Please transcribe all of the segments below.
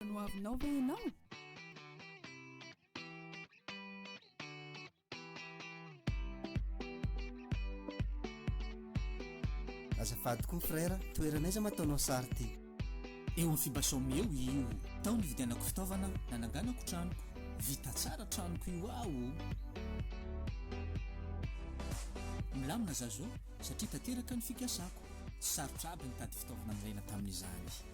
Mbola nohavinao ve ianao? Azafady koa frère, toerana aiza ma ataonao sary ty? Eo amin'ny Fibasome eo io. Tao nividianako fitaovana nananganako tranoko. Vita tsara tranoko io aho o. Milamina za zao satria tanteraka ny fikasako. Tsy sarotra aby nitady fitaovana nilaina tamin'izany.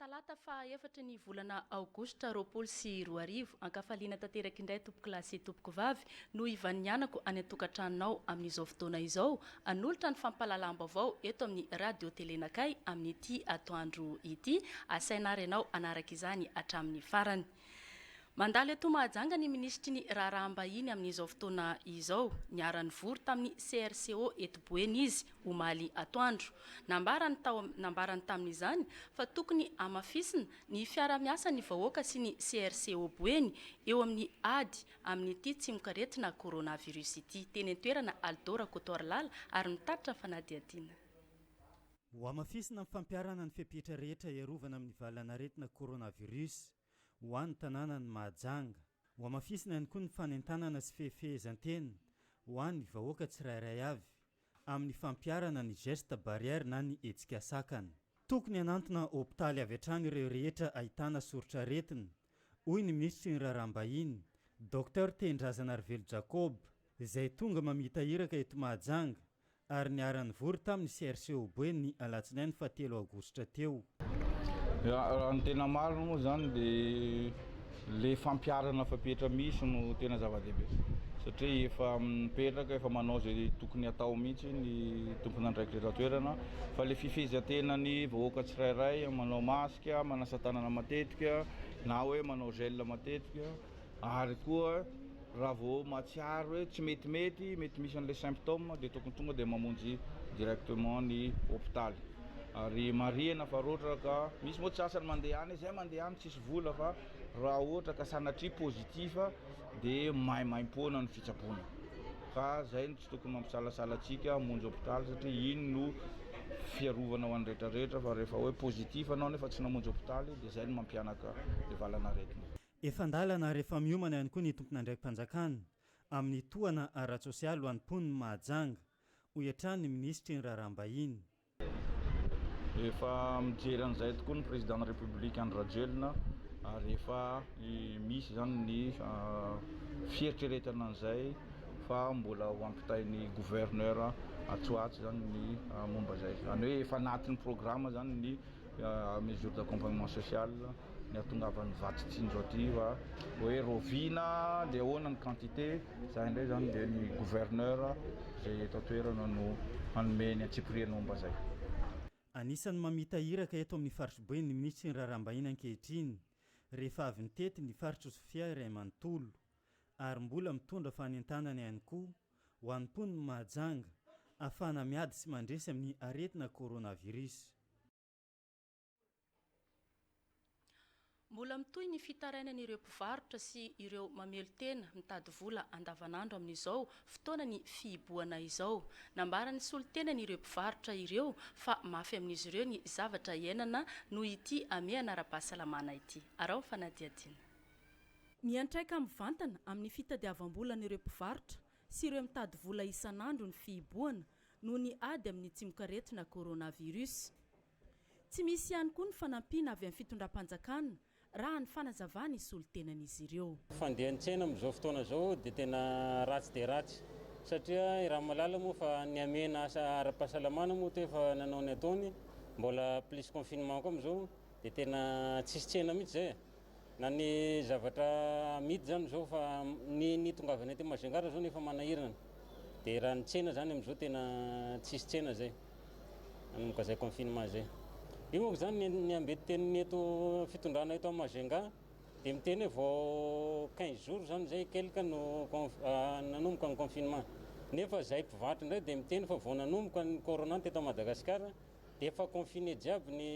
Talata faha efatra ny volana aogositra roapolo sy roa arivo. Ankafaliana tanteraka indray tompokolahy sy tompokovavy no ivanianako any an-tokantranonao amin'izao fotoana izao hanolotra ny fampahalalam-baovao eto amin'ny Radio Telenakay amin'ity atoandro ity. Asaina ary ianao hanaraka izany hatramin'ny farany. Mandalo eto Mahajanga ny minisitry ny Raharaham-bahiny amin'izao fotoana izao. Niara-nivory tamin'ny CRCO eto Boeny izy, omaly atoandro. Nambarany tao nambarany tamin'izany fa tokony hamafisina ny fiara-miasan'ny vahoaka sy ny CRCO Boeny eo amin'ny ady amin'ity tsimokaretina coronavirus ity. Teny an-toerana Aldo Rakotoarilala ary nitatitra fanadihadiana. Hohamafisina ny fampiharana ny fepetra rehetra hiarovana amin'ny valan'aretina coronavirus ho an'ny tanànan'i Mahajanga. Hohamafisina ihany koa ny fanentanana sy fehefehezan-tena ho an'ny vahoaka tsirairay avy amin'ny fampiharana ny gestes barrières na ny hetsika sakana. Tokony hanantona hopitaly avy hatrany ireo rehetra ahitana soritr'aretina, hoy ny minisitry ny Raharaham-bahiny, Docteur Tehindraza Narivelo Jacob, izay tonga mamita iraka eto Mahajanga ary niara-nivory tamin'ny CRCOB ny alatsinainy faha telo aogositra teo. Raha ny tena marina moa izany dia ilay fampiharana fepetra misy no tena zava-dehibe satria efa mipetraka, efa manao izay tokony hatao mihitsy ny tompon'andraikitra eto an-toerana fa ilay fifehezan-tenan'ny vahoaka tsirairay manao masque, manasa-tanana matetika na hoe manao gel matetika Ary koa raha vao mahatsiaro hoe tsy metimety, mety misy an'ilay symptômes dia tokony tonga dia mamonjy directement ny hôpitaly. Ary marihina fa raha ohatra ka, misy moa tsy sasany mandeha any, izay mandeha any tsisy vola fa raha ohatra ka sanatria positif dia maimaimpoana ny fitsaboana. Ka izay no tsy tokony mampisalasala antsika hamonjy hôpitaly satria iny no fiarovana ho an'ny rehetra rehetra fa rehefa hoe positif anao nefa tsy namonjy hôpitaly dia izay no mampihanaka ny valan'aretina. Efa an-dalana ary efa miomana ihany koa ny tompon'andraiki-panjakana amin'ny tohana ara-tsosialy ho an'ny mponin'i Mahajanga, hoy hatrany ny minisitry ny Raharaham-bahiny. Efa mijery an'izay tokoa ny Prezidàn'ny Repoblika Andry Rajoelina ary efa misy izany ny fieritreretana an'izay fa mbola ho ampitain'ny Gouverneur atsy ho atsy izany ny momba izay. Izany hoe efa anatin'ny programa izany ny mesures d'accompagnement social. ny hatongavan'ny vato tsy indro aty va hoe roviana dia ahoana ny quantité izany indray izany dia ny gouverneur izay eto an-toerana no hanome ny antsipirian'omba izay. Anisan'ny mamita iraka eto amin'ny faritry Boeny ny minisitry ny raharaham-bahiny ankehitriny rehefa avy nitety ny faritr'i Sofia iray manontolo ary mbola mitondra fanentanana ihany koa ho an'ny mponin'i Mahajanga ahafahana miady sy mandresy amin'ny aretina coronavirus. Mbola mitohy ny fitarainana ireo mpivarotra sy ireo mamelon-tena mitady vola andavanandro amin'izao fotoana ny fihibohana izao. Nambaran'ny solontenany ireo mpivarotra ireo fa mafy amin'izy ireo ny zavatra iainana noho ity hamehana ara-pahasalamana ity. Araho ny fanadihadiana. Miantraika mivantana amin'ny fitadiavam-bolan'ireo mpivarotra sy ireo mitady vola isan'andro ny fihibohana noho ny ady amin'ny tsimokaretina coronavirus. Tsy misy ihany koa ny fanampiana avy amin'ny fitondram-panjakana raha ny fanazavana hisolo tenan'izy ireo. Fandehan'ny tsena amin'izao fotoana izao dia tena ratsy dia ratsy satria i Ramalala moa fa nihamena asa ara-pahasalamana moa toa efa nanao ny ataony, mbola plus confinement koa amin'izao dia tena tsisy tsena mihitsy izay e! na ny zavatra amidy zany zao fa ny ny tongavany aty Majunga ary zao nefa manahirana dia raha ny tsena zany amizao tena tsisy tsena zay manomboka zay confinement zay io manko zany ny ambety teniny eto fitondrana eto Majunga dia miteny hoe vao 15 jours zany zay quelque no ah, nanomboka ny confinement nefa zay mpivarotra indray dia miteny fa vao nanomboka ny corona teto Madagasikara dia efa confiné jiaby ny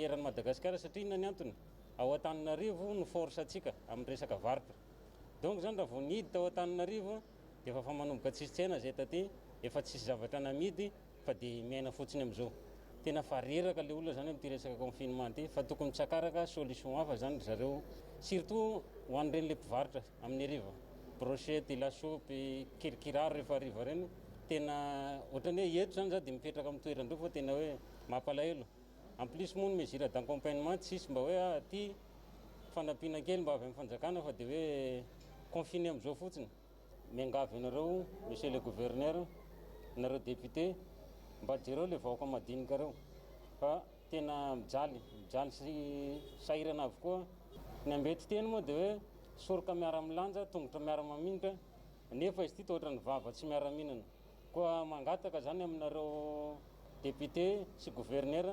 eran'i Madagasikara satria inona ny antony? ao Antananarivo no force antsika amin'ny resaka varotra donc izany raha vao nihidy tao Antananarivo dia efa fa manomboka tsisy tsena izay taty efa tsisy zavatra namidy fa dia miaina fotsiny amin'izao tena fa reraka ilay olona izany amin'ity resaka confinement ity fa tokony tsakaraka solution hafa izany ry zareo surtout ho an'ireny ilay mpivarotra amin'ny hariva brochette, lasopy, kirikiraro rehefa hariva ireny tena ohatran'ny hoe eto zany za de mipetraka amin'ny toerandreo fa tena hoe mampalahelo. En plus moa ny mesure d'accompagnement tsy hisy mba hoe ah aty fanampiana kely mba avy amin'ny fanjakana fa de hoe confiner am'zao fotsiny. Miangavy anareo monsieur le gouverneur, nareo député mba jereo le vahoaka madinika reo fa tena mijaly, mijaly sy sahirana avokoa. Ny ambetin-teny moa de hoe soroka miara-milanja, tongotra miara-mamingotra, Nefa izy ity toa ohatran'ny vava tsy miara-mihinana. Koa mangataka izany aminareo député sy gouverneur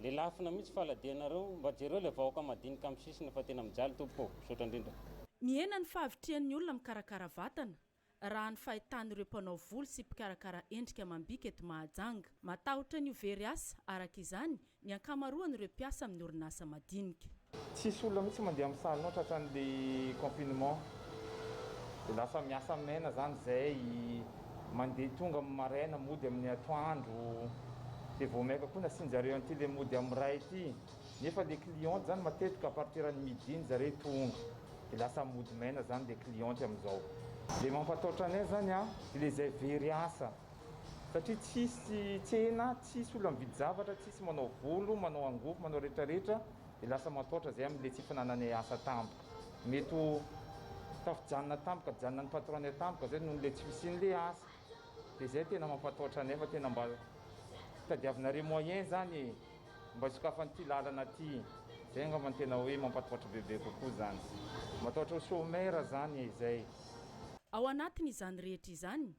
le lafina mihitsy faladianareo mba jereo le vahoaka madinika am sisiny fa tena mijaly tompoko ô. Misaotra indrindra. Mihena ny fahavitrihan'ny olona mikarakara vatana, raha ny fahitan'ireo mpanao volo sy mpikarakara endrika amam-bika eto Mahajanga. Matahotra ny ho very asa, araka izany, ny ankamaroan'ireo mpiasa amin'ny orinasa madinika. Tsisy olona mihitsy mandeha amin'ny salon tratran'le confinement de lasa miasa mena zany zay mandeha tonga amin'ny maraina mody amin'ny atoandro de vao maika koa nasianjareo an'ity le mody amin'ny ray ity nefa le cliente zany matetika à partir ny midi ny zareo tonga de lasa mody maina zany le cliente amin'izao le mampataotra anay zany a le zay very asa Satria tsisy tsena, tsisy olona mividy zavatra, tsisy manao volo, manao angofo, manao retraretra, dia lasa mataotra zay amin'ilay tsy fananany asa tampoka. Mety ho tafijanona tampoka, janona ny patron-ny tampoka zay nohon'ilay tsy fisian'ilay asa. Dia zay tena mampataotra anay fa tena mba tadiavinareo moyen zany e! Mba sokafan'ity lalana ty. Zay angamba no tena hoe mampataotra bebe kokoa zany. Mataotra ho chomeur zany e! Zay. Ao anatin'izany rehetra izany,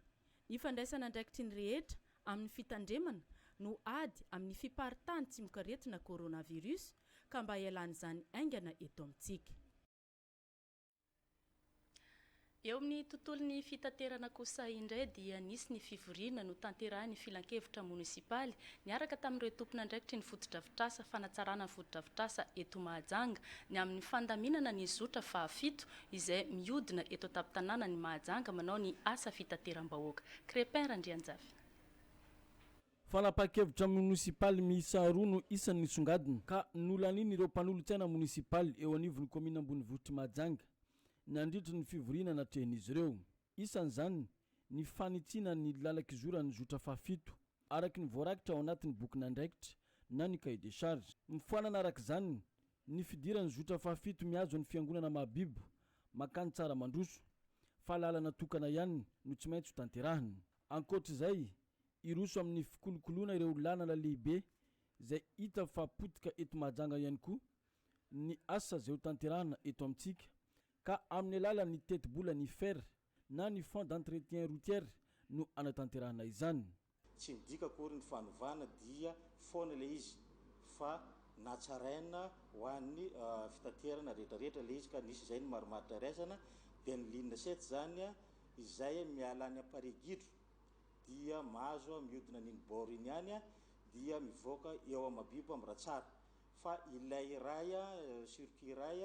Ny fandraisana andraikitry ny rehetra amin'ny fitandremana no ady amin'ny fiparitahan'ny tsimokaretina coronavirus ka mba ialan'izany haingana eto amintsika. Eo amin'ny tontolon'ny fitaterana kosa indray dia nisy ny fivoriana notanterahin'ny filankevitra monisipaly niaraka tamin'ireo tompon'andraikitry ny fotodrafitrasa fanatsarana ny fotodrafitrasa eto Mahajanga ny amin'ny fandaminana ny zotra fahafito izay mihodina eto an-tampon-tanànan'i Mahajanga manao ny asa fitateram-bahoaka. Crépin Randrianjafy. Fanapahan-kevitra monisipaly miisa roa no isany nisongadina ka nolanian'ireo mpanolotsaina monisipaly eo anivon'ny kaominina ambonivohitr'i Mahajanga, nandritra ny fivoriana natrehin'izy ireo. isan'izany ny fanitsiana ny lalan-kizoran'ny zotra fahafito, araka ny voarakitra ao anatin'ny bokin'andraikitra na ny cahier de charge. Mifoanana araka izany ny fidiran'ny zotra fahafito mihazo ny Fiangonana mahabibo mankany Tsaramandroso, fa lalana tokana ihany no tsy maintsy ho tanterahina. Ankoatra izay, hiroso amin'ny fikolokoloana ireo lalana lehibe izay hita fa potika eto Mahajanga ihany koa ny asa izay ho tanterahina eto amintsika, ka amin'ny alalan'ny tetibola ny fer na ny fonds d'entretien routier no anatanterahana izany. Tsy midika akory ny fanovana dia foana ilay izy fa natsaraina ho an'ny fitaterana rehetrarehetra ilay izy ka nisy izay ny marimaritra iraisana dia ny ligne sept izany izay miala any Amparigidro dia mahazo miodina an'iny bord iny ihany dia mivoaka eo Mahabibo Amiratsara fa ilay iray circuit iray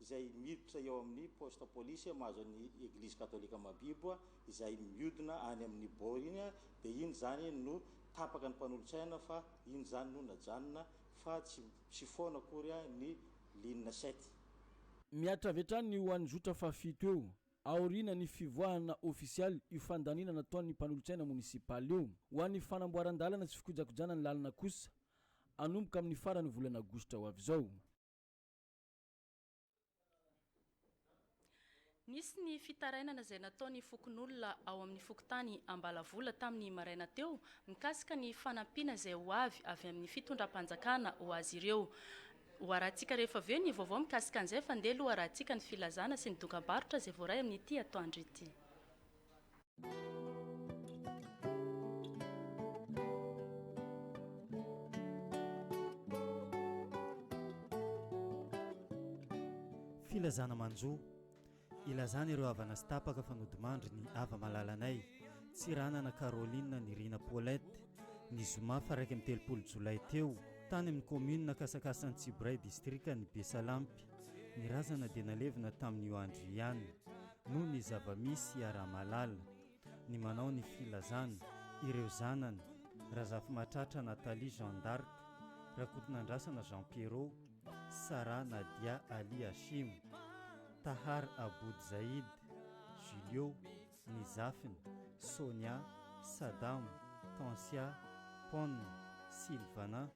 izay miditra eo amin'ny poste police mahazo an'i Eglise Katolika Mabibo izay miodina any amin'ny bord iny dia iny izany no tapaka ny mpanolotsaina fa iny izany no najanona fa tsy tsy foana akory ny ligne sept. Mihatra avy hatrany ho an'ny zotra fahafito eo, aoriana ny fivoahana ofisialy io fandaniana nataon'ny mpanolotsaina monisipaly io. Ho an'ny fanamboaran-dalana sy fikojakojana ny lalana kosa, hanomboka amin'ny faran'ny volana aogositra ho avy izao. Nisy ny fitarainana izay nataon'ny fokonolona ao amin'ny fokontany Ambalavola tamin'ny maraina teo mikasika ny fanampiana izay ho avy avy amin'ny fitondram-panjakana ho azy ireo. Hoarahintsika rehefa avy eo ny vaovao mikasika an'izay fa ndeha aloha hoarahintsika ny filazana sy ny dokam-barotra izay voaray amin'ity atoandro ity. Filazana manjo, ilazana ireo havana sy tapaka fa nodimandry ny hava-malalanay, Tsiranana Caroline Nirina Paulette, ny zoma faha-iraika amby telopolo jolay teo, tany amin'ny kaominina Kasakasan'i Tsiboray, distrikan'i Besalampy. Ny razana dia nalevina tamin'io andro io ihany, noho ny zava-misy iaraha-mahalala, ny manao ny filazana, ireo zanany, Razafimahatratra Nathalie Jeanne d'Arc, Rakotonandrasana Jean Pierrot, Sarah Nadia Ali Hashim, Tahar Aboud Zaïd, Julio, ny zafiny, Sonia, Sadam, Tansia, Pon, Sylvana,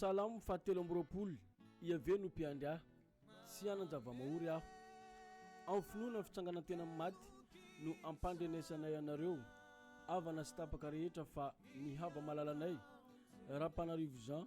Salamo fahatelo amby roapolo, Iaveh no mpiandry ahy, tsy hanan-java-mahory aho. Amin'ny finoana ny fitsanganan-tena amin'ny maty no ampandrenesanay anareo, havana sy tapaka rehetra fa ny hava-malalanay, Rapanarivo Jean,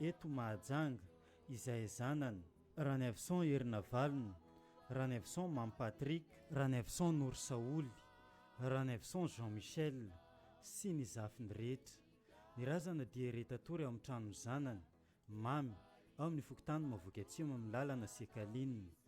Eto Mahajanga, izay zanany, Ranaivoson Herinavalona, Ranaivoson Mamy Patrick, Ranaivoson Norisaholy, Ranaivoson Jean Michel sy ny zafiny rehetra, ny razana dia re-tatory ao amin'ny tranon'ny zanany, Mamy, ao amin'ny fokontany Mahavoky Atsimo amin'ny lalana Sekalina.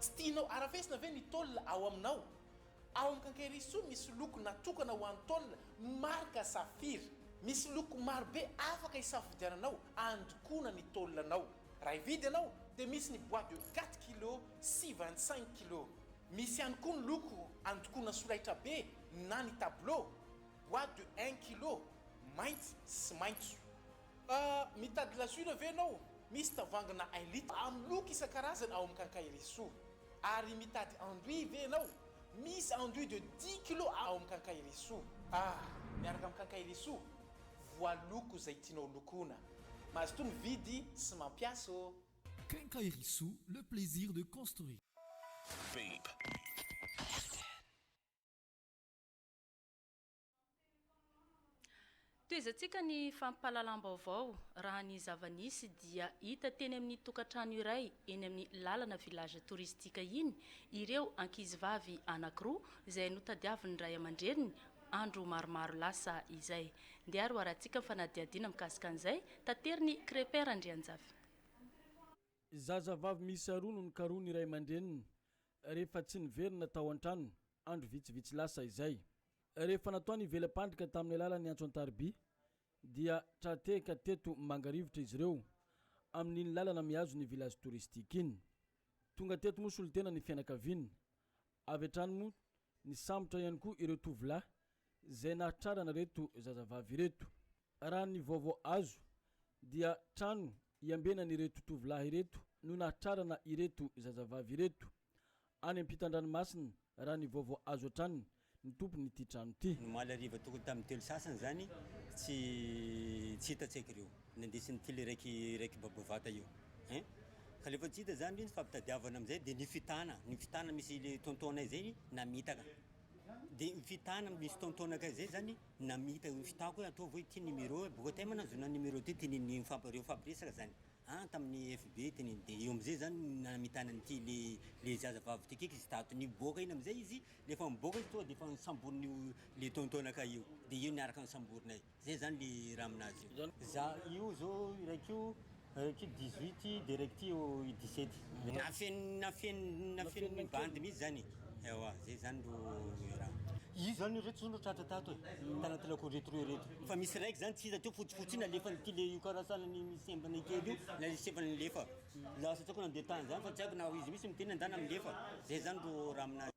Tsy tianao arafesina ve ny tôle ao aminao? Ao amin'ny Kankerisoa misy loko natokana ho an'ny tôle marika Safir. Misy loko maro be afaka isafidiananao andokoana ny tôle anao. Raha hividy ianao dia misy ny bois de quatre kilos sy vingt cinq kilos. Misy ihany koa ny loko andokoana solaitrabe na ny tableau, bois de un kilo, mainty sy maitso. Ah, mitady glaçure ve ianao? Misy tavangina un litre amin'ny loko isan-karazany ao amin'ny Quincaillerie-soa. Ary mitady anduit ve ianao? Misy anduit de dix kilos ao amin'ny Quincaillerie-soa. Ah, miaraka amin'ny Quincaillerie-soa, voaloko izay tianao lokoina. Mazotoa mividy sy mampiasa ô! Quincaillerie-soa, le plaisir de construire. Babe. Tohizantsika ny fampahalalam-baovao, raha ny zava-nisy dia hita teny amin'ny tokantrano iray eny amin'ny lalana village touristique iny ireo ankizivavy anankiroa izay notadiavin'ny ray aman-dreniny andro maromaro lasa izay. Ndeha roarantsika ny fanadihadiana mikasika an'izay, taterin'i Crépin Randrianjafy. Zazavavy miisa roa no nokarohin'ny ray aman-dreniny, rehefa tsy niverina tao an-tranony andro vitsivitsy lasa izay. Rehefa natao ny vela-pandrika tamin'ny alalan'ny antso an-tariby dia tra-tehaka teto Mangarivotra izy ireo amin'iny lalana mihazo ny village touristique iny. Tonga teto moa solontena ny fianakaviana. Avy hatrany moa nisambotra ihany koa ireo tovolahy izay nahatrarana ireto zazavavy ireto. Raha ny vaovao azo dia trano iambenan'ireto tovolahy ireto no nahatrarana ireto zazavavy ireto, any am-pitandranomasina raha ny vaovao azo hatrany ny tompon'ity trano ity. Omaly hariva tokony tamin'ny telo sasany izany tsy tsy hita tsaiky ireo nandeha sy ny kily iraiky iraiky babo vata io hein. Ka rehefa tsy hita izany ireo nifampitadiavana amin'izay dia nifitana, nifitana misy tonton-nay izay namitaka. Dia ny fitana misy taontaona akaiza izay izany namita io fitako hoe ataovy hoe ity numéro e, bokotay moa nahazoana ny numéro ity tian'ny mifampi- reo mifampiresaka izany an tamin'ny FB teneniny dia eo amin'izay izany no namitana an'ity le le zaza vavy ity kiky izy tato niboaka iny amin'izay izy rehefa miboaka izy tonga dia efa nisamborin'io le taontaona kay io dia eo niaraka nisamborina io. Zay zany le raha aminazy io. Za io zao iraiko io iraiko dix huit de iraiko ty io dix sept. Nafeno nafeno nafeno ny bandy mihitsy zany e! Ewa zay zany ro raha. Iza zany ireto zao no tratra tato e? Tanaty lako ireto roa ireto. Fa misy raiky zany tsy hita teo fotsifotsy iny alefan'ity le io karasana ny misy embana kely io na le sefany nilefa. Lasa tsy haiko nandeha tany zany fa tsy haiko na izy mihitsy miteny na ndana milefa. Zay zany ro raha aminazy.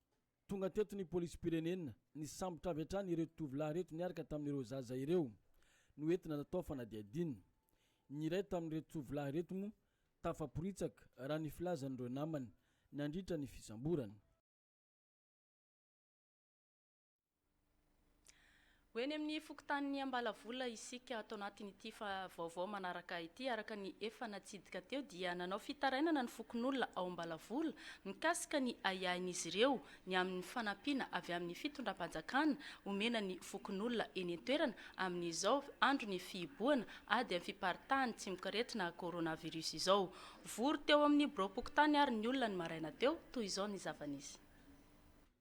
Tonga teto ny polisim-pirenena, nisambotra avy hatrany ireto tovolahy ireto niaraka tamin'ireo zaza ireo, noentina natao fanadihadiana. Ny iray tamin'ireto tovolahy ireto moa tafaporitsaka, raha ny filazan'ireo namany, nandritra ny fisamborana. Ho eny amin'ny fokontanin'i Ambalavola isika tao anatin'ity vaovao manaraka ity. Araka ny efa natsidika teo dia nanao fitarainana ny fokonolona ao Ambalavola mikasika ny ahiahin'izy ireo ny amin'ny fanampiana avy amin'ny fitondram-panjakana omena ny fokonolona eny an-toerana amin'izao andron'ny fihibohana ady amin'ny fiparitahan'ny tsimok'aretina coronavirus izao. Vory teo amin'ny biraom-pokontany ary ny olona ny maraina teo, toy izao ny zava-nisy.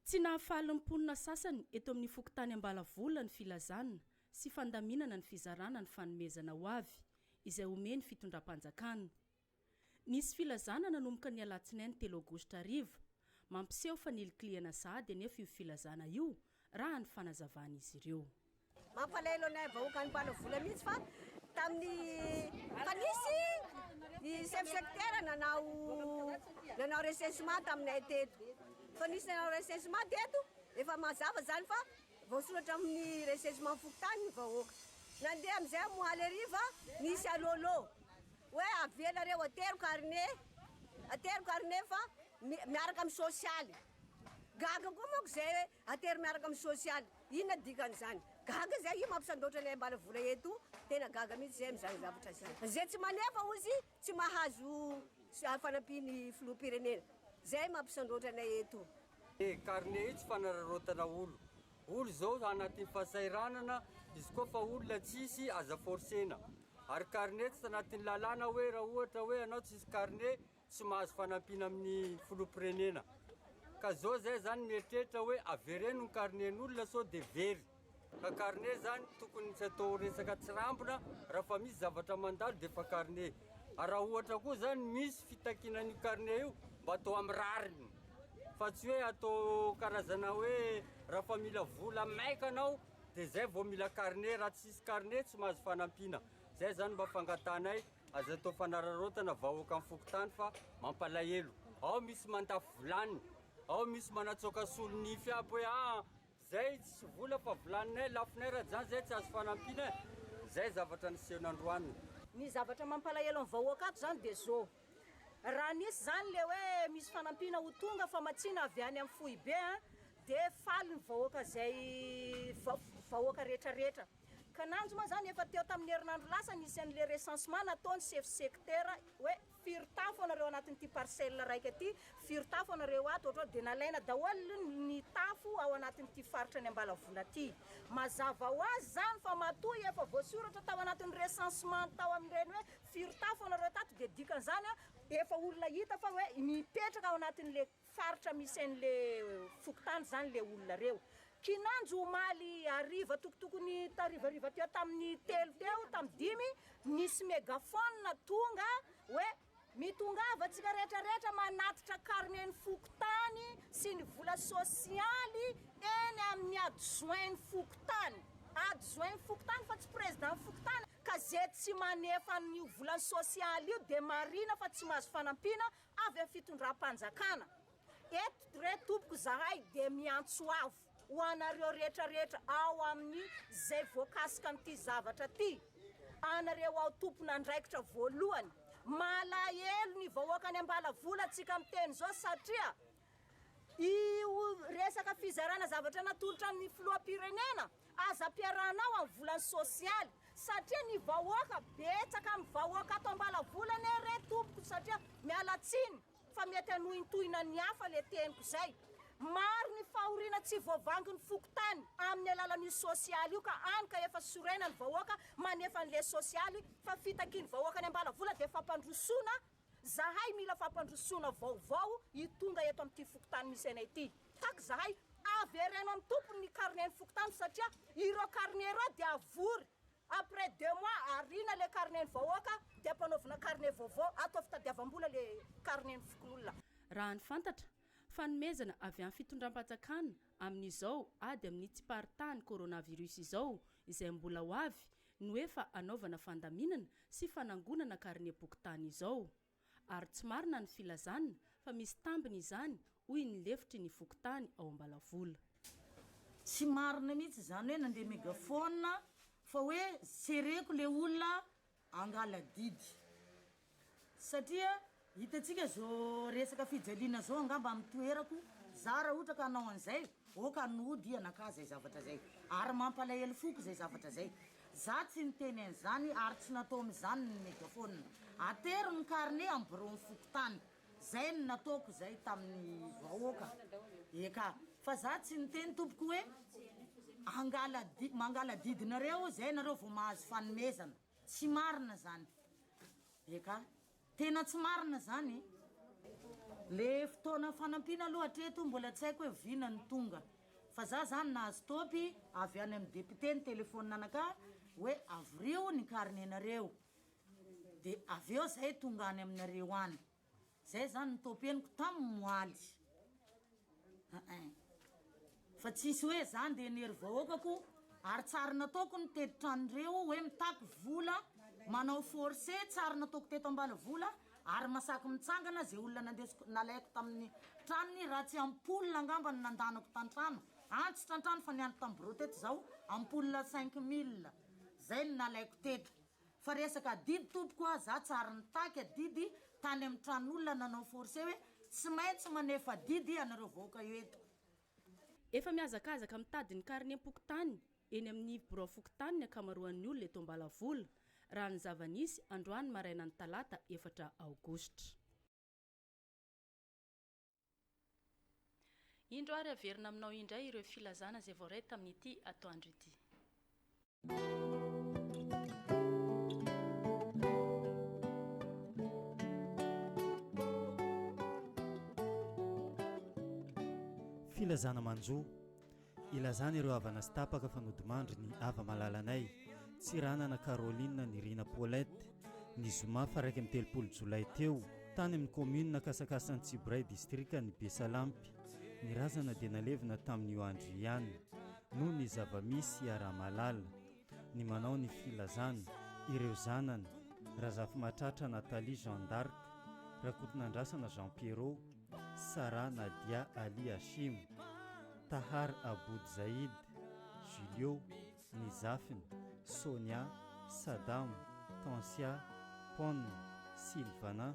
Tsy nahafaly ny mponina sasany eto amin'ny fokontany Ambalavola ny filazana sy fandaminana ny fizarana ny fanomezana ho avy izay omen'ny fitondram-panjakana. Nisy filazana nanomboka ny alatsinainy telo aogositra hariva, mampiseho fa nilikilihana sahady anefa io filazana io raha ny fanazavan'izy ireo. Mampalahelo anay vahoaka any Ampanavola mihitsy fa tamin'ny fa nisy ny chef secteur nanao nanao recensement taminay teto fa nisy nanao recensement teto efa mazava zany fa voasoratra amin'ny recensement fokontany ny vahoaka nandeha amin'izay moaly hariva nisy alôlô hoe avela reo atero carnet atero carnet fa miaraka amin'ny sosialy gaga koa manko izay Atery miaraka amin'ny sosialy. Inona dikan'izany? Gaga zay io mampisandoatra ny ahimbala vola eto o! Tena gaga mihitsy zay amin'izany zavatra zany. Zay tsy manefa hozy tsy mahazo fanampian'ny filoham-pirenena. Zay mampisandoatra anay eto o! Io carnet io tsy fanararaotana olo. Olo zao anatin'ny fahasahiranana, izy koa fa olona tsisy aza forcena. Ary carnet tsy tanatin'ny lalàna hoe raha ohatra hoe anao tsisy carnet tsy mahazo fanampiana amin'ny filoham-pirenena ka zao zay zany mieritreritra hoe avereno ny carnet-n'olona sao dia very ka carnet zany tokony tsy atao resaka tsirambina raha fa misy zavatra mandalo dia efa carnet ary raha ohatra koa zany misy fitakiana an'io carnet io mba atao amin'ny rariny fa tsy hoe atao karazana hoe raha fa mila vola maika anao dia zay vao mila carnet raha tsy misy carnet tsy mahazo fanampiana Zay zany mba fangatanay aza atao fanararaotana vahoakan'ny fokontany fa mampalahelo. Ao misy mandafo vilany, ao misy manatsoaka solo nify aby hoe ah zay tsy vola fa vilaninay lafonay rajany zay tsy azo fanampiana. Zay zavatra niseho nandroany. Ny zavatra mampalahelo ny vahoaka ato zany de zô. Raha nisy zany le hoe misy fanampiana ho tonga famatsiana avy any amin'ny foibe an de faly ny vahoaka zay vahoaka retraretra. Kananjo moa izany efa teo tamin'ny herinandro lasa nisy an'ilay recensement nataon'ny sefo sektera hoe firy tafo anareo anatin'ity parcelle raika ity, firy tafo anareo ato ohatrao dia nalaina daholo ny tafo ao anatin'ity faritra any Ambalavola ity. Mazava ho azy izany fa matoa efa voasoratra tao anatin'ny recensement tao amin'ireny hoe firy tafo anareo tato dia dikan'izany efa olona hita fa hoe mipetraka ao anatin'ilay faritra misy an' le fokontany zany le olona reo. Kinanjo omaly hariva tokotokony tarivariva teo tamin'ny telo teo tamin'ny dimy nisy megaphone tonga hoe mitongava antsika rehetra rehetra manatitra carnet ny fokontany sy ny vola sosialy eny amin'ny adjoint ny fokontany adjoint ny fokontany fa tsy président ny fokontany ka ze tsy manefa an'io vola sosialy io de marina fa tsy mahazo fanampiana avy amin'ny fitondram-panjakana, eto re tompoko izahay dia miantso avo ho anareo rehetra rehetra ao amin'ny izay voakasika amin'ity zavatra ity, anareo ao tompon'andraikitra voalohany, malahelo ny vahoakan'i Ambalavola tsika miteny izao satria Io resaka fizarana zavatra natolotra ny filoham-pirenena aza ampiarahana ao amin'ny volany sosialy satria ny vahoaka betsaka amin'ny vahoaka ato Ambalavola anie re tompoko satria miala tsiny fa mety hanohintohina ny hafa le teniko zay. Maro ny fahoriana tsy voavangy ny fokontany amin'ny alalan'io sosialy io ka any ka efa sorena ny vahoaka manefa an'le sosialy fa fitakian'ny vahoaka any Ambalavola dia fampandrosoana Zahay mila fampandrosoana vaovao hitonga eto amin'ity fokontany misy anay ity. Tack zahay, avereno amin'ny tompony ny carnet ny fokontany satria ireo carnet ireo dia avory, après deux mois ariana ilay carnet ny vahoaka dia ampanaovina carnet vaovao, atao fitadiavam-bola ilay carnet ny fokonolona. Raha ny fantatra, fanomezana avy amin'ny fitondram-panjakana amin'izao ady amin'ny tsiparitahany coronavirus izao izay mbola ho avy no efa anaovana fandaminana sy fanangonana karinem-pokontany izao. Ary tsy marina ny filazana fa misy tambiny izany hoy ny lefitry ny fokontany ao Ambalavola. Tsy marina mihitsy izany hoe nandeha megaphone fa hoe jereko ilay olona hangala didy. Satria hitantsika zo resaka fijaliana zao angamba amin'ny toerako za raha ohatra ka hanao an'izay ok an'oho dia nakà zay zavatra zay ary mampalahelo foko zay zavatra zay za tsy niteny an'izany ary tsy nataony izany ny megaphone atero ny carnet amin'ny bureau-n'ny fokontany zay no nataoko zay tamin'ny vahoaka eka fa za tsy niteny tompoko hoe angala mangala didinareo zay nareo vao mahazo fanomezana Tsy marina zany. Eka. Tena tsy marina zany e. Le fotoana fanampiana aloha hatreto mbola tsy haiko hoe vina no tonga. Fa za zany nahazo top avy any amin'ny député nitelephone anakah hoe avorio ny carnet nareo. De avy eo zay tonga any aminareo any. Zay zany ny topeniko tam moaly eeh fa tsisy hoe za nde nery vahoaka ko ary tsary nataoko ny tetitra anreo hoe mitaky vola manao force tsary nataoko teto ambalavola ary masaky mitsangana ze olona nandesiko nalaiko taminy tranony raha tsy ampoule angamba no nandanako tantrano antso trantrano fa niandry tam bureau teto zaho ampoule cinq mille zay no nalaiko teto Fa resaka adidy tompoko a, za tsary nitaky adidy tany amin'ny tran'olona nanao forcé hoe tsy maintsy manefa adidy ianareo vahoaka eo eto. Efa mihazakazaka mitady ny karnem-pokontany eny amin'ny birao fokontany ny ankamaroan'ny olona eto Ambalavola, raha ny zava-nisy androany marainan'ny talata efatra aogositra. Indro ary averina aminao indray ireo filazana izay voaray tamin'ity atoandro ity. Filazana manjo. Ilazana ireo havana sy tapaka fa nodimandry ny hava-malalanay, Tsiranana Caroline Nirina Paulette, ny zoma faha iraika amby telopolo jolay teo, tany amin'ny kaominina Kasakasan'i Tsibray, distrikan'i Besalampy. Ny razana dia nalevina tamin'io andro io ihany, noho ny zava-misy hiaraha-mahalala. ny manao ny filazana ireo zanany Razafimahatratra Nathalie Jeanne d'Arc, Rakotonandrasana Jean Pierrot, Sarah Nadia Ali Hashim, Tahar Aboud Zaïd, Julio, ny zafiny, Sonia, Sadam, Tansia, Pon, Sylvana,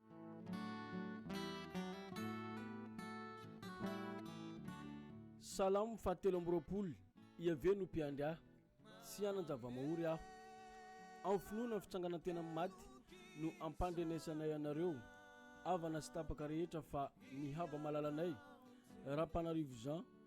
Salamo fahatelo amby roapolo, Iaveh no mpiandry ahy, tsy hanan-java-mahory aho. Amin'ny finoana ny fitsanganan-tena amin'ny maty no ampandrenesanay anareo, havana sy tapaka rehetra fa ny hava-malalanay, Rapanarivo Jean,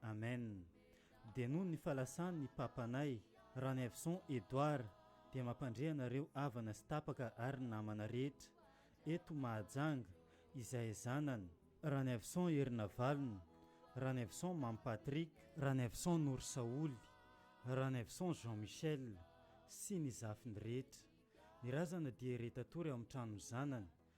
Amen dia noho ny falasan ny papanay Ranaivoson Edouard dia mampandre anareo havana sy tapaka ary namana rehetra eto Mahajanga izay zanany Ranaivoson Herinavalona, Ranaivoson Mamy Patrick, Ranaivoson Norisaholy, Ranaivoson Jean Michel sy ny zafiny rehetra, ny razana dia re tatory ao amin'ny tranon'ny zanany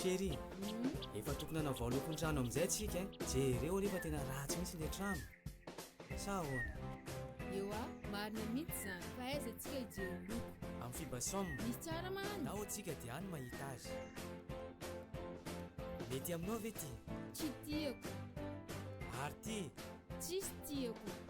Chérie, efa tokony hanavao lokon-trano amin'izay tsika hein. Eh. Jereo aloha fa tena ratsy mihitsy ilay trano. Sa ahoana? Eo ah, marina mihitsy izany. Fa aiza antsika hijery loko? Amin'ny Fibasom. Misy tsara mahany. Nao antsika dia any mahita azy. Mety aminao ve ty? Tsy tiako. Ary ty? Tsisy tiako.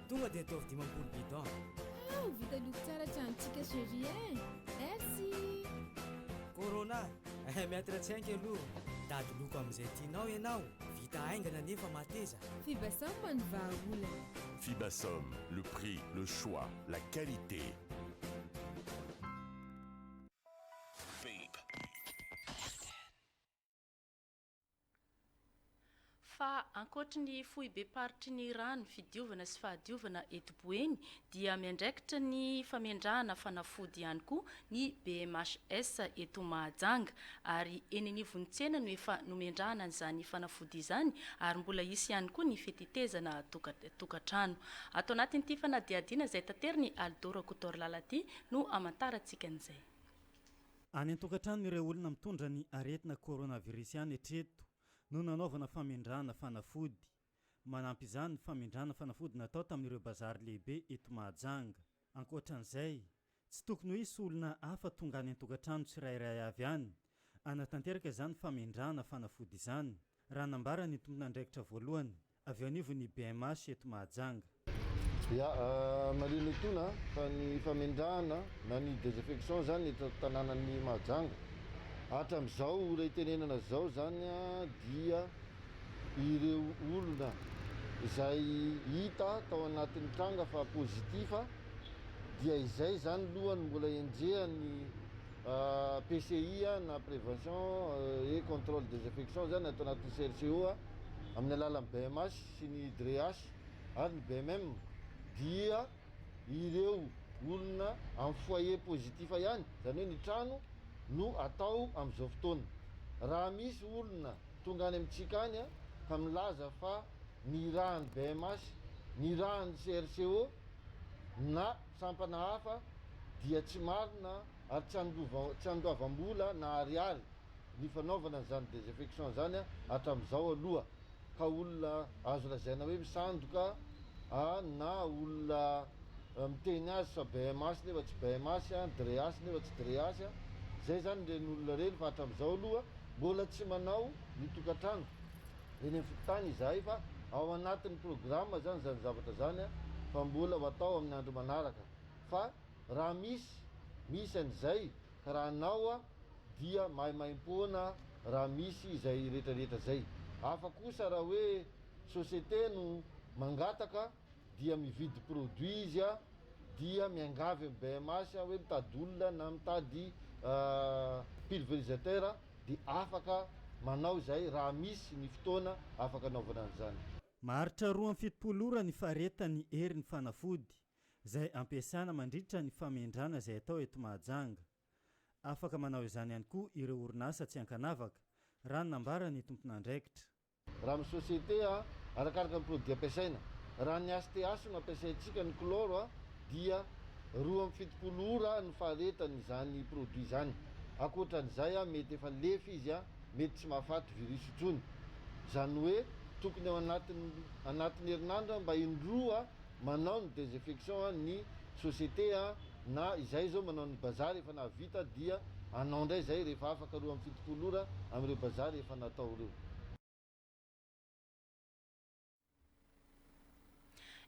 Tonga dia ataovy dimampolo bidon. Wow, vita loko tsara tranontsika chérie eh. Merci. Corona, eh mettre tsenky aloha. Dady loko amin'izay tianao ianao. Vita haingana nefa mateza. Fibasam mano vahaolana. Fibasam, le prix, le choix, la qualité. Babe. Fa ankoatry ny foibem-paritry ny rano fidiovana sy fahadiovana eto Boeny dia miandraikitra ny famendrahana fanafody ihany koa ny BMHS eto Mahajanga ary eny anivon'ny tsena no efa nomendrahana an'izany fanafody izany ary mbola hisy ihany koa ny fitetezana tokantrano. Ato anatin'ity fanadihadiana izay taterin'i Aldo Rakotoarilalati no hamantarantsika an'izay. Any an-tokantrano ireo olona mitondra ny aretina coronavirus ihany hatreto no nanaovana famindràna fanafody. Manampy izany ny famindràna fanafody natao tamin'ireo bazary lehibe eto Mahajanga. Ankoatran'izay, tsy tokony ho hisy olona hafa tonga any an-tokantrano tsirairay avy any hanatanteraka izany famindràna fanafody izany, raha nambara ny tompon'andraikitra voalohany avy eo anivon'ny bmh eto Mahajanga. Ya, marina etoana an, fa ny famendrahana na ny desaffection izany eto tanànan'i Mahajanga, hatram'izao ora itenenana izao izany dia ireo olona izay hita tao anatin'ny tranga fa positif dia izay izany aloha no mbola enjehan'ny PCI na Prévention et Contrôle des Infections izany ato anatin'ny CRCO amin'ny alalan'ny BMH sy ny DREH ary ny BMM dia ireo olona amin'ny foyer positif ihany, izany hoe ny trano no atao amin'izao fotoana. Raha misy olona tonga any amintsika any ka milaza fa nirahan'ny BMH, nirahan'ny CRCO na. Sampana hafa dia tsy marina ary tsy tsy andoavam-bola na ariary ny fanaovana an'izany désinfection izany hatramin'izao aloha ka olona azo lazaina hoe misandoka na olona miteny azy sao bms nefa tsy bms, dreas nefa tsy dreas, izay izany ireny olona ireny fa hatramin'izao aloha mbola tsy manao ny tokantrano eny amin'ny fokontany izahay fa ao anatin'ny programa izany izany zavatra izany fa mbola ho atao amin'ny andro manaraka fa raha misy misy an'izay ka raha anao dia maimaimpoana raha misy izay retraretra izay hafa kosa raha hoe société no mangataka dia mividy produit izy a dia miangavy am BMH a hoe mitady olona na mitady pulverisateur de afaka manao izay raha misy ny fotoana afaka anaovana an'izany. Maharitra roa amby fitopolo ora ny faharetan'ny herin'ny fanafody izay ampiasana mandritra ny famendrana izay atao eto Mahajanga. Afaka manao izany ihany koa ireo orinasa tsy ankanavaka, raha ny nambaran'ny tompon'andraikitra. Raha amin'ny société, arakaraka ny produit ampiasaina. Raha ny HTH no ampiasaintsika, ny chlore, dia roa amby fitopolo ora ny faharetan' izany produit izany. Ankoatra an'izay, mety efa nilefy izy, mety tsy mahafaty virus intsony. Izany hoe tokony ao anatin'ny anatin'ny herinandro mba indroa manao ny desinfection an ny société an na izay zao manao ny bazary efa nahavita dia anao ndray zay rehefa afaka roa amby fitopolo ora amin'ireo bazary efa natao reo.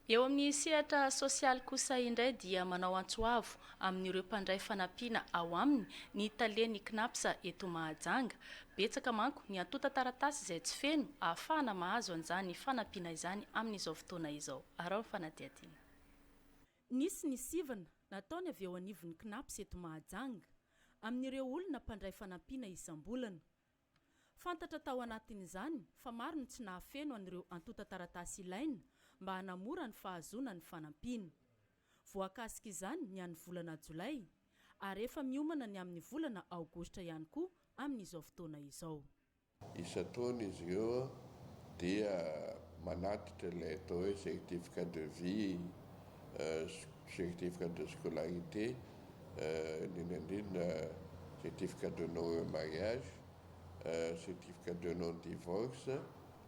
Eo amin'ny sehatra sosialy kosa indray dia manao antso avo amin'ireo mpandray fanampiana ao aminy ny talen'ny Cnaps eto Mahajanga Betsaka manko ny antontan-taratasy izay tsy feno ahafahana mahazo an'izany fanampiana izany amin'izao fotoana izao. Araho ny fanadihadiana. Nisy ny sivana nataony avy eo anivon'ny Cnaps eto Mahajanga amin'ireo olona mpandray fanampiana isam-bolana. Fantatra tao anatin'izany fa maro ny tsy nahafeno an'ireo antontan-taratasy ilaina mba hanamora ny fahazoana ny fanampiana. Voakasik'izany ny an'ny volana jolay. ary efa miomana ny amin'ny volana aogositra ihany koa amin'izao fotoana izao. Isan-taona izy ireo dia manatitra ilay atao hoe certificat de vie, certificat de scolarité, indrindra indrindra certificat de non remariage, certificat de non divorce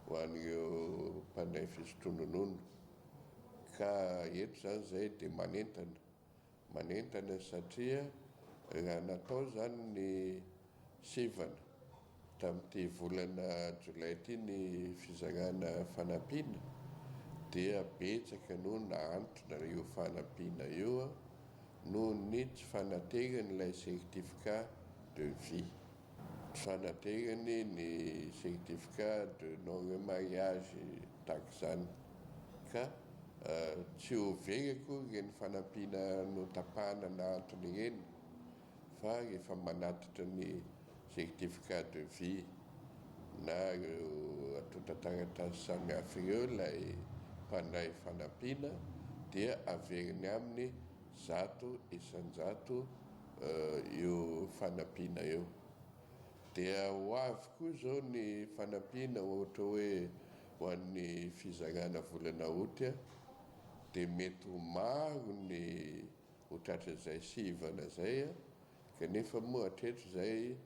ho an'ireo mpandray fisotrononono ka eto izany izay dia manentana manentana satria raha natao izany ny sivana tamin'ity volana jolay ity ny fizarana fanampiana dia betsaka no nahantona io fanampiana io noho ny tsy fanateran'ilay certificat de vie. fanaterany ny certificat de non remariage tahaka izany ka tsy ho very akory ireny fanampiana notapahana nahantona ireny fa rehefa manatitra ny certificat de vie na ireo antontan-taratasy samihafa ireo ilay mpandray fanampiana dia averiny aminy zato isan-jato io fanampiana io. Dia ho avy koa izao ny fanampiana ohatra hoe ho an'ny fizarana volana août dia mety ho maro ny ho tratran'izay sivana izay kanefa moa hatreto izay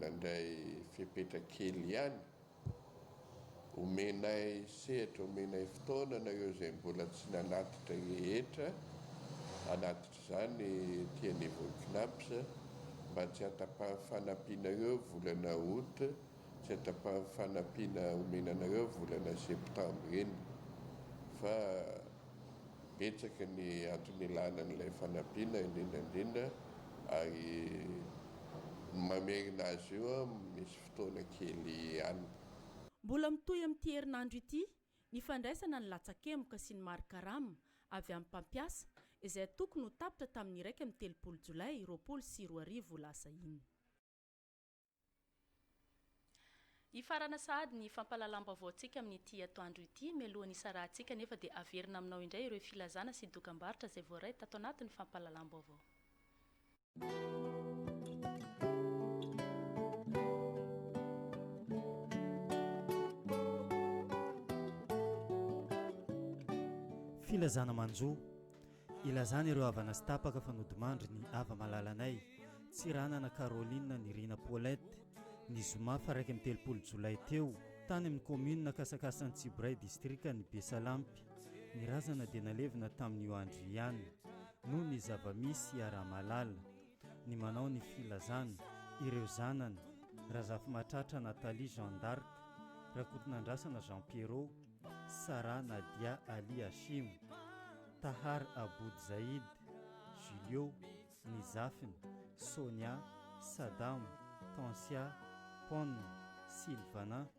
nandray fepetra kely ihany. Omenay sehatra, omenay fotoana anareo izay mbola tsy nanatitra rehetra hanatitra izany ety niveau Cnaps mba tsy hatapahan'ny fanampianareo volana aout, tsy hatapahan'ny fanampiana omena anareo volana septambra iny fa betsaka ny antony ilana an'ilay fanampiana indrindra indrindra ary ny mamerina azy io an misy. fotoana kely ihany. Mbola mitohy amin'ity herinandro ity ny fandraisana ny latsakemboka sy ny mari-karama avy amin'ny mpampiasa izay antoko no tapitra tamin'ny iraika amby telopolo jolay roapolo sy roa arivo lasa iny. Hifarana sahady ny fampahalalam-baovaontsika amin'ity atoandro ity. Mialoha ny hisarahantsika anefa dia haverina aminao indray ireo filazana sy dokambarotra izay voaray tato anatin'ny fampahalalam-baovao. Filazana manjo, ilazana ireo havana sy tapaka fa nodimandry ny hava-malalanay, Tsiranana Caroline Nirina Paulette, ny zoma faha-iraika amby telopolo jolay teo, tany amin'ny kaominina Kasakasan'i Tsiboray, distrikan'i Besalampy. Ny razana dia nalevina tamin'io andro io ihany, noho ny zava-misy iaraha-mahalala, ny manao ny filazana, ireo zanany, Razafimahatratra Nathalie Jeanne d'Arc, Rakotonandrasana Jean Pierrot, Sarah Nadia Ali Hashim, Tahar Aboud Zaïd, Julio, ny zafiny, Sonia, Sadam, Tansia, Pon, Sylvana,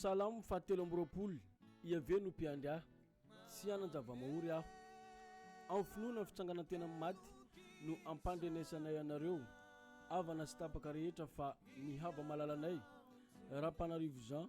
Salamo fahatelo amby roapolo, Iaveh no mpiandry ahy, tsy hanan-java-mahory aho. Amin'ny finoana ny fitsanganan-tena amin'ny maty no ampandrenesanay anareo, havana sy tapaka rehetra fa ny hava-malalanay, Rapanarivo Jean,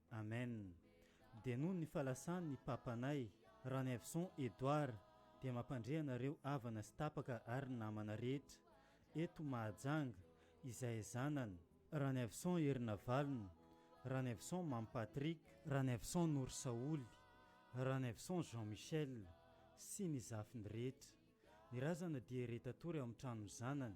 Amen dia noho ny falasan ny papanay Ranaivoson Edouard dia mampandre anareo havana sy tapaka ary namana rehetra eto Mahajanga izay zanany Ranaivoson Herinavalona, Ranaivoson Mamy Patrick, Ranaivoson Norisaholy, Ranaivoson Jean Michel sy ny zafiny rehetra, ny razana dia re tatory ao amin'ny tranon'ny zanany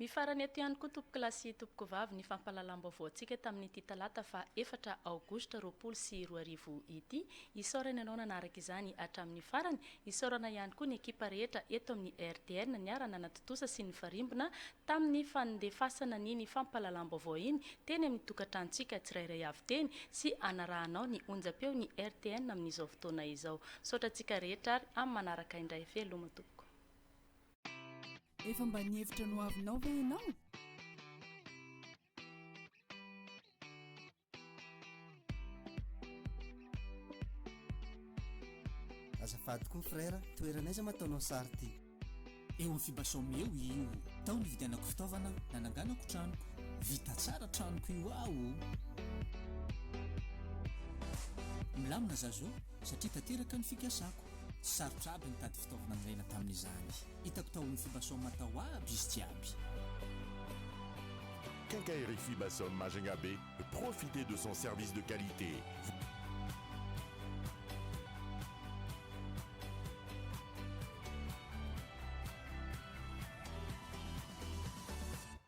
Mifarana eto ihany koa tompokolahy sy tompokovavy ny fampahalalam-baovaontsika tamin'ity talata faha efatra aogositra roapolo sy roa arivo ity. Isaorana ianao nanaraka izany hatramin'ny farany. Isaorana ihany koa ny ekipa rehetra eto amin'ny RTN niara-nanatontosa sy nifarimbona tamin'ny fanondefasana an'iny fampahalalam-baovao iny teny amin'ny tokantranontsika tsirairay avy teny sy hanarahanao ny onjam-peon'ny RTN amin'izao fotoana izao. Misaotra antsika rehetra ary amin'ny manaraka indray. Veloma tompoko. Efa mba nihevitra ny ho avinao ve ianao? Azafady koa frère, toerana aiza ma ataonao sary ty? Eo amin'ny Fibasom eo io. Tao nividianako fitaovana nananganako tranoko. Vita tsara tranoko io aho o! Milamina za zao satria tanteraka ny fikasako. Tsy sarotra aby nitady fitaovana nilaina tamin'izany. Hitako tao amin'ny Fibasom tao aby izy jiaby. Quincaillerie Fibasom Majunga Bay, profitez de son service de qualité.